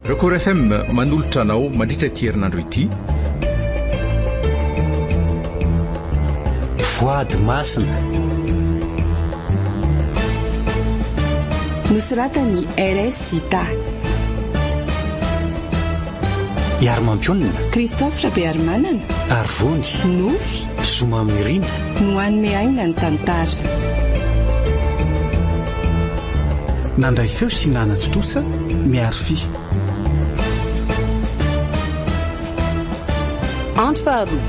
Record FM manolotra anao mandritra ity herinandro ity. Voady masina. Nosoratan'i RS Sita. Iary Mampionona. Christophe Rabearimanana. Arvony. Nofy. Zo mamirina no hanome aina ny tantara. Nandray feo sy nanatontosa Miary Fy. Andro faharoa.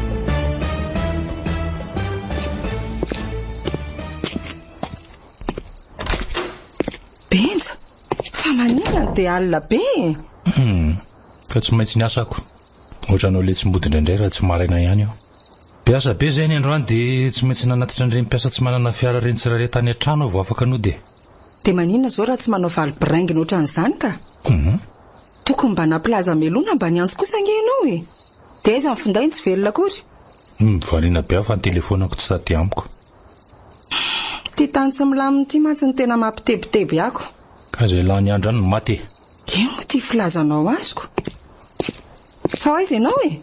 Benja, fa maninona dia alina be e? ka tsy maintsy niasa ako. Ohatranao letsi-mody indraindray raha tsy maraina ihany aho. Be asa be izay ny androany dia tsy maintsy nanatitra an'ireny mpiasa tsy manana fiara ireny tsirairay tany an-trano aho vao afaka nody e. Dia maninona izao raha tsy manao valy biraingina ohatran'izany ka? Humm. Tokony mba nampilaza hamelona mba ny antsy kosa ange ianao e. Dia aiza ny finday no tsy velona akory? Humm, variana be aho fa ny telefonako tsy sady amiko. Ity tany tsy milamina ity mantsy no tena mampitebiteby ako. Ka izay lany andra no maty e. Ino moa ity filazanao azoko? Fa aiza ianao e?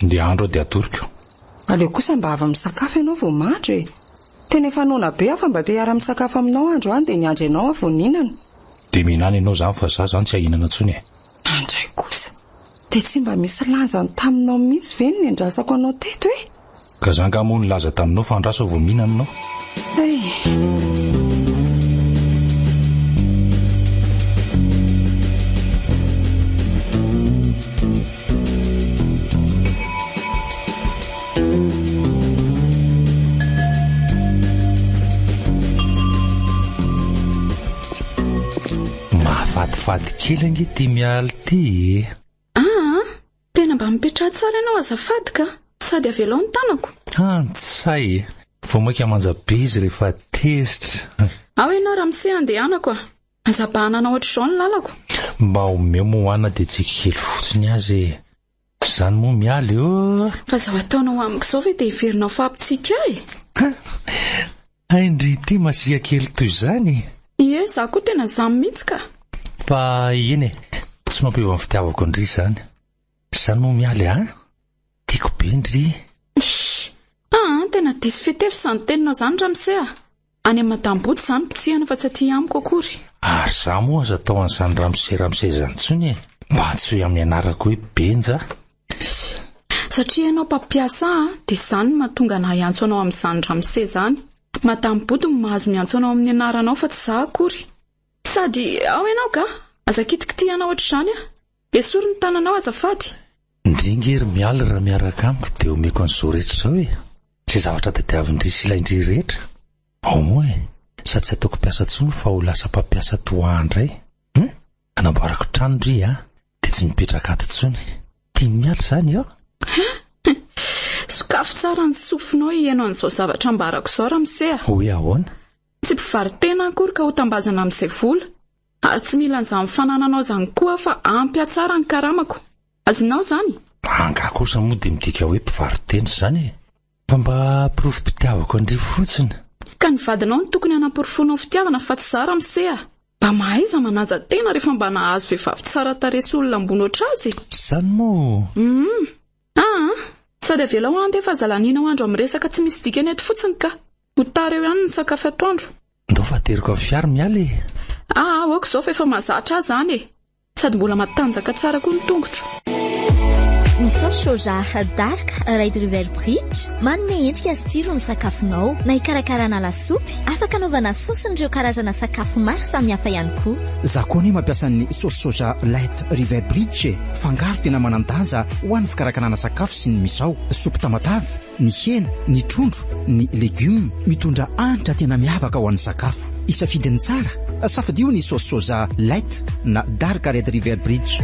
Ndeha andro aho dia atoroko. Aleo kosa mba avy misakafo ianao vao mandro e. Tena efa noana be aho fa mba te hiara misakafo aminao andro any dia niandry anao aho vao nihinana. Dia mihinana ianao izany fa izaho izany tsy ahinana intsony e. Andray kosa! Dia tsy mba misy lanjany taminao mihitsy ve ny nendrasako anao teto e? Gaza angaha moa nilaza taminao fa andraso aho vao mihinana ianao? Mahafatifaty kely ange ity Mialy ity e! Aa! Tena mba mipetraha tsara ianao azafady ka! Sady avelao ny tanako. Antsay e! Vao maika manja be izy rehefa tezitra. Ao ianao Ramse handehanako a! Aza bahanana ohatr'izao ny lalako. Mba omeo Moana dia tsiky kely fotsiny aza e! Izany moa miala eo! Fa izao ataonao amiko izao ve dia heverinao fa hampitsiky ahy? Hay ndry ity Masia kely toy izany e! Ie za koa tena zany mitsy ka. Fa eny e, tsy mampiova ny fitiavako an-dry izany. Za no mialy an! Tiako be ndry. Ish! Ah an tena diso fitefy izany teninao izany ramose a! Any amin'i madame Boto za no potsihana fa tsy aty amiko akory. Ary za moa aza atao an'izany ramose ramose izany intsony e! Mba antsoy amin'ny anarako hoe Benja Sy. Satria ianao mpampiasa ahy dia izany no mahatonga anah hiantso anao amin'izany ramose izany. Madame Body no mahazo miantso anao amin'ny anaranao fa tsy izaho akory. Sady ao ianao ga? Aza kitikitihana hoatr'izany ah! Esory ny tananao azafady! Ndry nge ry Mialy raha miaraka amiko dia omeko an'izao rehetra izao e! Izay zavatra tadiavin-dry sy ilain-dry rehetra. Au moins, sady tsy ataoko mpiasa intsony fa ho lasa mpampiasa toa ahy indray. Hum! Anamboarako trano ry a, dia tsy mipetraka ato intsony. Tian'i Mialy izany aho. Sokafy tsara ny sofinao hiheno an'izao zavatra ambarako izao, Ramose a. Hoe ahoana? Tsy mpivaro-tena aho akory ka ho tambazana amin'izay vola. Ary tsy mila an'izany fanananao izany koa aho fa ampy hatsara ny karamako. Azonao izany? Angaha kosa moa dia midika hoe mpivaro-tena izany e? Fa mba porofo mpitiavako an-dry fotsiny. Ka ny vadinao no tokony hanaporofoanao fitiavana fa tsy za ramose a! Mba mahaiza manaja tena rehefa mba nahazo vehivavy tsara tarehy sy olona ambony ohatr'azy e! Zany moa! Humm! Ah ah! Sady avelao handefa zalaninao andro amin'ny resaka tsy misy dikany eto fotsiny ka! Ho tara eo ihany ny sakafo atoandro. Ndao fa ateriko avy fiara miala e! Ah ah! Aoka izao fa efa mahazatra ahy zany e! Sady mbola matanjaka tsara koa ny tongotro. Ny saosy soja dark Red River Bridge manome endrika sy tsiro ny sakafonao, na hikarakarana lasopy, afaka anaovana saosin'ireo karazana sakafo maro samihafa ihany koa. Za koa anie mampiasa ny saosy soja light river bridge e! Fangaro tena manan-danja ho an'ny fikarakarana sakafo sy ny misao, soupe tamatave, ny hena, ny trondro, ny legioma mitondra hanitra tena miavaka ho an'ny sakafo. Isafidy ny tsara, safidio ny saosy soja light na dark red river bridge.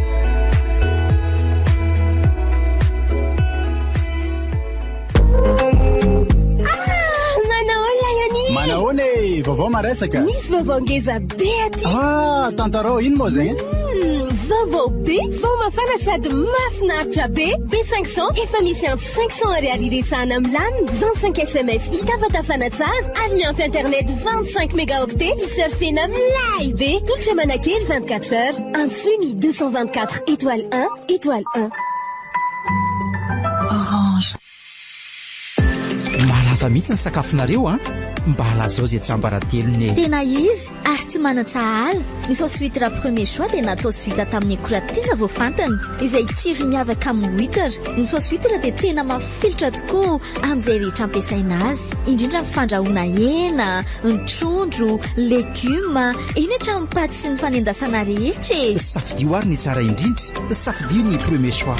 vaovao maresaka misy vaovao ngeza be aty ah tantarao ino moa zegny hmm, vaovao be vao mafana sady mafinaritra be b 500 efa misy Cinq cents ariary iresahana milamina, vingt cinq sms hitafatafana tsara ary miampy internet vingt cinq mégaoctets hisurfena milay be. Tolotra manakely vingt quatre heures. Antsoy ny deux cent vingt quatre étoile un étoile un. Orange. Malaza mihitsy ny sakafonareo an! Mba lazao izay tsiambaratelony e! Tena izy, Ary tsy manan-tsahala, ny sauce huitre premier choix dia natao sy vita tamin'ny akora tena voafantina, izay tsirony miavaka amin'ny huitre. Ny sauce huitre dia tena mafilotra tokoa amin'izay rehetra ampiasaina azy, indrindra amin'ny fandrahoana hena, ny trondro, legioma, eny hatramin'ny paty sy ny fanendasana rehetra e! Safidio ary ny tsara indrindra, safidio ny premier choix.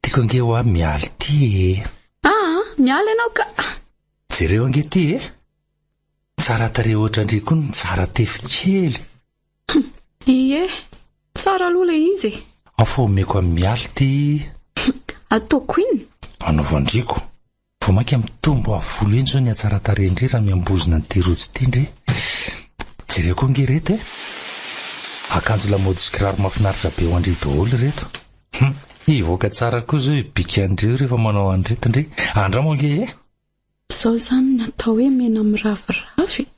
Tiako ange hoa Mialy ty ee. Aa Mialy ianao ka. Jereo ange ty ee. Tsara tarehy hoatra ndry koa ny tsara tefy kely. Humm ie tsara aloha ilay izy e. Ao fa omeko an'i Mialy ty. Ataoko in? Anaovan-dry ko. Vao mainka mitombo avo volo eny izao ny hatsaran-tarehin-dry raha miambozona an'ity rojo ity ndry e! Jereo koa ange ireto e! Akanjo lamaody sy kiraro mahafinaritra be ho an-dry daholo ireto. Hum! Hivoaka tsara koa izao io bikin-dry io rehefa manao an'ireto ndry. Andramo ange e! Zao izany no atao hoe mena miraviravy e!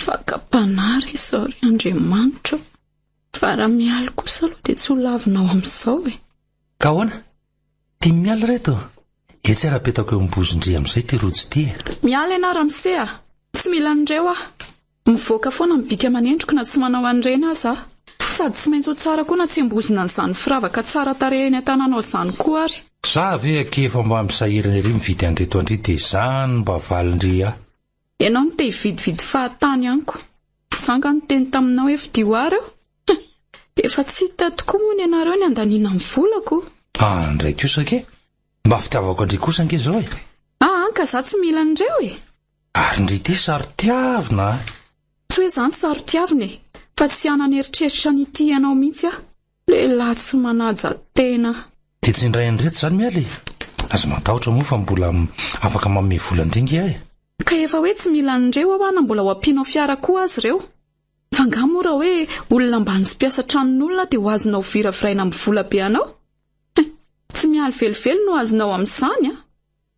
Fakam-panahy re izao ry Andriamanitra o! Fa raha mialy kosa aloha dia tsy ho lavinao amin'izao e! Ka ahoana? Tim miala reto a! Etsy ary apetako eo ambozindry amin'izay ity rojo ity e! Miala ianao ramose a! Tsy mila an'ireo aho! Mivoaka foana ny bika aman'endriko na tsy manao an'ireny aza aho! Sady tsy maintsy ho tsara koa natsembozina an'izany firavaka tsara tarehy eny an-tananao izany koa ary! Za ve akia efa mba misahirana ery mividy an'ireto an-dry dia izany mba valindry ahy! Ianao no te hividividy fahatany amiko. Za nga niteny taminao ef dy war eo? Hum, efa tsy hita tokoa moa ny anareo ny andaniana ny volako. An ndray kosa ke! Mba fitiavako an-dry kosa ange zao e! Ah an ka za tsy mila an'ireo e! Ary ndry ity saro-tiavina a! Tsy hoe za no saro-tiavina e! Fa tsy hanana eritreritra ny hitia anao mihitsy aho. Lehilahy tsy manaja tena. Dia tsy indray andro eto izany miala e! Aza matahotra moa fa mbola afaka manome vola an-dringy aho e! Ka efa hoe tsy mila an'ireo aho na mbola ho ampianao fiara koa aza ireo. F'angaha moa raha hoe olona ambany sy mpiasa tranon'olona dia ho azonao viraviraina amin'ny vola be anao? He! Tsy mialy velively no azonao amin'izany an!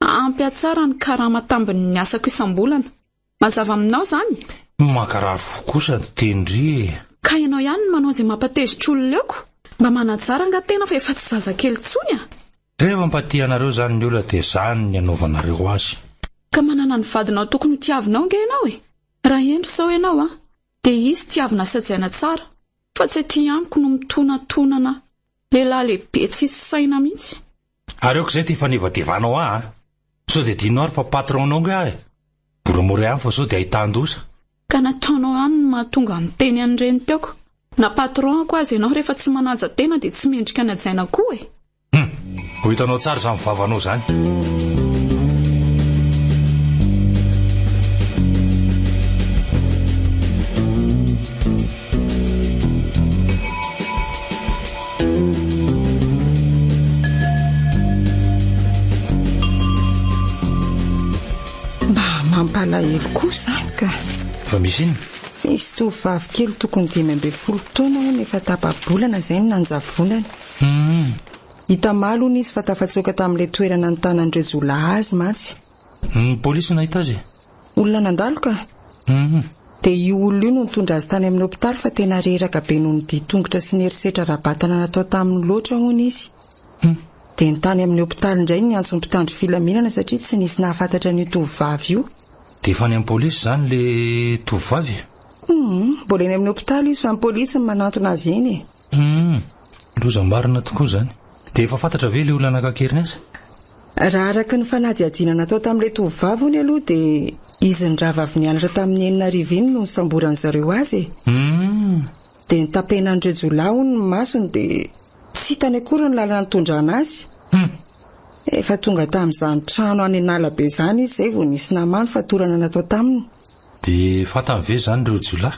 Ampy hatsara ny karama tambin'ny asako isam-bolana. Mazava aminao izany? Mankarary fo kosa ny tendry e! Ka ianao ihany no manao izay mampatezitra olona eo ko! Mba manatsara angaha tena fa efa tsy zazakely intsony a! Rehefa mba tia anareo izany ny olona dia izany ny anaovanareo azy. Ka manana ny vadinao tokony ho tiavinao ange ianao e! Raha hendry izao ianao a! Dia izy tiavina sy hajaina tsara fa tsy aty amiko no mitonantonana lehilahy lehibe tsisy saina mihitsy. Ary aoka izay ty fanevatevanao ahy an! Sao dia adinonao ary fa patron nao ange aho e! Moramora ihany fa sao dia ahitan-doza. Ka nataonao ihany ny mahatonga niteny an'ireny teoko. Na patron-ko aza ianao rehefa tsy manaja tena dia tsy mendrika ny hajaina koa e! Hum! Ho hitanao tsara izany vavanao izany. Mba mampalahelo koa izany ka. Fa misy inona? Nisy tovovavy kely tokony dimy ambin'ny folo taona hono efa tapa-bolana izay no nanjavonany. Hum. Itamaly hono izy fa tafatsoaka tamin'ilay toerana nitanan-dreo jiolahy azy mantsy. Ny polisy no nahita azy e. Olona nandalo ka! Humm. Dia io olona io no nitondra azy tany amin'ny hopitaly fa tena reraka be noho ny dia tongotra sy ny herisetra ara-batana natao taminy loatra hono izy. Humm. Dia ny tany amin'ny hopitaly indray no niantso ny mpitandro filaminana satria tsy nisy nahafantatra an'io tovovavy io. Dia efa any amin'ny polisy izany ilay tovovavy e? Humm, mbola eny amin'ny hopitaly izy fa ny polisy no manantona azy eny e! Humm, loza marina tokoa izany. Dia efa fantatra ve ilay olona nankakery ny asa? Raha araka ny fanadihadiana natao tamin'ilay tovovavy hono aloha dia izy ny rahavavy nianatra tamin'ny enina arivo iny no nisamboran'ny zareo azy e! Humm! Dia notapenan'ireo jiolahy hono ny masony dia tsy hitany akory ny lalana nitondrana azy. Humm! Efa tonga tamin'izany trano any an'ala be izany izy izay vao nisy naha many fatorana natao taminy. Dia fantany ve izany ireo jiolahy?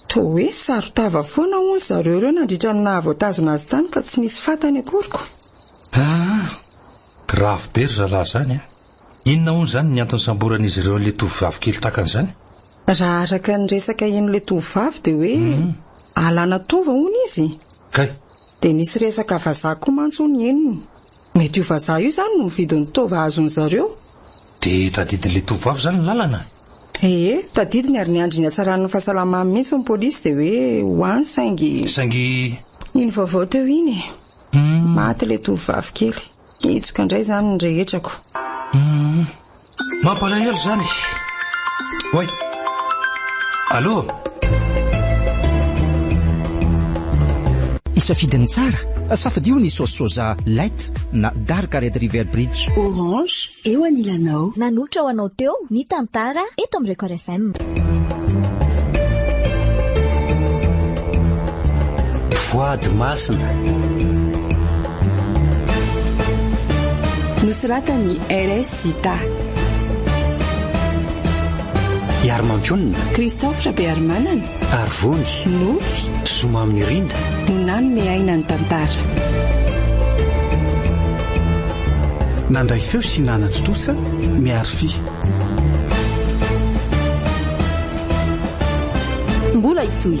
Toa hoe saron-tava foana hono zareo ireo nandritra ny naha voatazona azy tany ka tsy nisy fantany akory ko! Aa! Grave be ry zalahy izany a! Inona hono izany ny antony samboran'izy ireo an'ilay tovovavy kely takany izany? Raha araka ny resaka henon'ilay tovovavy dia hoe alana taova hono izy. Kay! Dia nisy resaka vazaha koa mantsy hono henony. Mety io vazaha io izany no mividy ny taova azony zareo. Dia tadidin'ilay tovovavy izany ny lalana? Ee, tadidiny ary niandry ny hatsaran'ny fahasalamany mihitsy ny polisy dia hoe ho any saingy. Saingy. Iny vaovao teo iny e. Maty ilay tovovavy kely. Hitsoka indray izany ny rehetrako. Mampalahelo izany. Oay. Allo? Isafidy ny tsara. Safidio ny saosy soja light. Forest na Dark Red River Bridge. Orange, eo anilanao. Nanolotra ho anao teo ny tantara eto amin'ny Record FM. Voady masina. Nosoratan'i RS Sita. Iary Mampionona. Christophe Rabearimanana. Arivony. Nofy. Zoma amin'ny rinda. Nanome aina ny tantara. Nandray feo sy nanatontosa Miary Fy. mbola hitohy.